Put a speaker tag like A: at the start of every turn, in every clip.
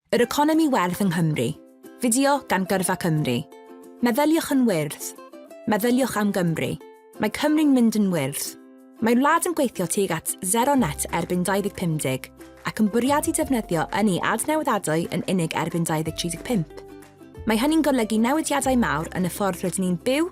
A: Yr economi werdd yng Nghymru. Fideo gan Gyrfa Cymru. Meddyliwch yn wyrdd. Meddyliwch am Gymru. Mae Cymru'n mynd yn wyrdd. Mae'r wlad yn gweithio tuag at Zero Net erbyn 2050 ac yn bwriadu defnyddio ynni adnewyddadwy yn unig erbyn 2035. Mae hynny'n golygu newidiadau mawr yn y ffordd rydyn ni'n byw,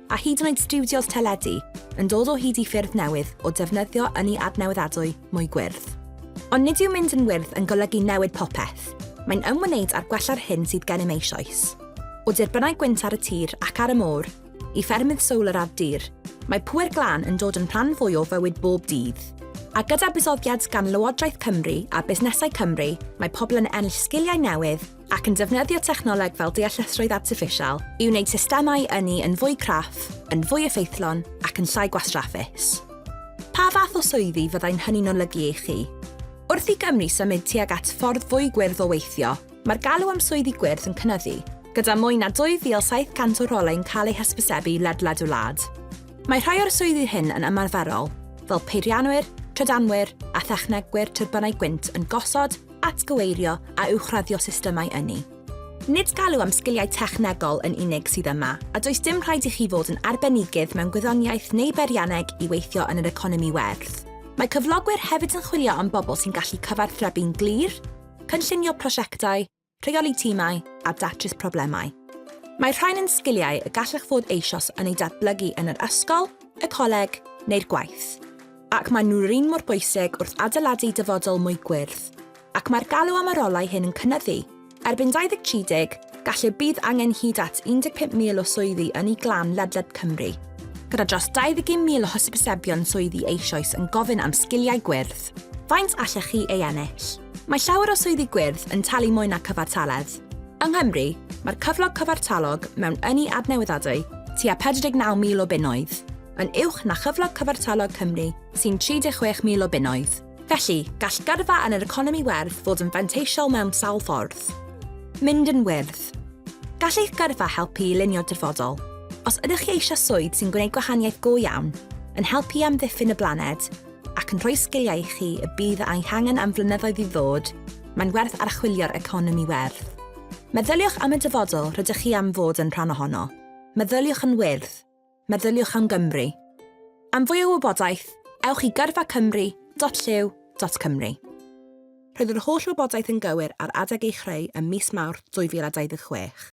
A: a hyd yn oed stiwdios teledu, yn dod o hyd i ffyrdd newydd o defnyddio ynni adnewyddadwy mwy gwyrdd. Ond nid yw mynd yn wyrdd yn golygu newid popeth, mae'n ymwneud â'r gwella'r hyn sydd gennym eisoes. O dirbynau gwynt ar y tir ac ar y môr, i ffermydd solar ar dir, mae pŵer glân yn dod yn rhan fwy o fywyd bob dydd. A gyda buddsoddiad gan Lywodraeth Cymru a busnesau Cymru, mae pobl yn ennill sgiliau newydd, ac yn defnyddio technoleg fel deallusrwydd artiffisial i wneud systemau ynni yn fwy craff, yn fwy effeithlon ac yn llai gwastraffus. Pa fath o swyddi fyddai'n hynny'n olygu i chi? Wrth i Gymru symud tuag at ffordd fwy gwyrdd o weithio, mae'r galw am swyddi gwyrdd yn cynyddu, gyda mwy na 2,700 o rolau'n cael eu hysbysebu ledled y wlad. Mae rhai o'r swyddi hyn yn ymarferol, fel peirianwyr, trydanwyr a thechnegwyr tyrbynau gwynt yn gosod atgyweirio a uwchraddio systemau ynni. Nid galw am sgiliau technegol yn unig sydd yma, a does dim rhaid i chi fod yn arbenigydd mewn gwyddoniaeth neu beirianneg i weithio yn yr economi werth. Mae cyflogwyr hefyd yn chwilio am bobl sy'n gallu cyfarthrebu'n glir, cynllunio prosiectau, rheoli timau a datrys problemau. Mae rhain yn sgiliau y gallech fod eisoes yn eu datblygu yn yr ysgol, y coleg neu'r gwaith. ac maen nhw'r un mor bwysig wrth adeiladu dyfodol mwy gwyrdd, ac mae'r galw am y rolau hyn yn cynyddu. Erbyn 2030, gallu bydd angen hyd at 15,000 o swyddi ynni glan ledled Cymru, gyda dros 21,000 o hysbysebion swyddi eisoes yn gofyn am sgiliau gwyrdd. Faint allech chi ei ennill? Mae llawer o swyddi gwyrdd yn talu mwy na cyfartaledd. Yng Nghymru, mae'r cyflog cyfartalog mewn ynni adnewyddadwy tua 49,000 o bunnoedd. yn uwch na chyflog cyfartalog Cymru sy'n 36,000 o bunnoedd. Felly, gall gyrfa yn yr economi werdd fod yn fanteisiol mewn sawl ffordd. Mynd yn wyrdd. Gall eich gyrfa helpu i lunio dyfodol. Os ydych chi eisiau swydd sy'n gwneud gwahaniaeth go iawn, yn helpu i amddiffyn y blaned, ac yn rhoi sgiliau i chi y bydd a'i hangen am flynyddoedd i ddod, mae'n werth archwilio'r economi werdd. Meddyliwch am y dyfodol rydych chi am fod yn rhan ohono. Meddyliwch yn wyrdd. meddyliwch am Gymru. Am fwy o wybodaeth, ewch i gyrfacymru.llyw.cymru. Roedd yr holl wybodaeth yn gywir ar adeg ei chreu ym mis Mawrth 2026.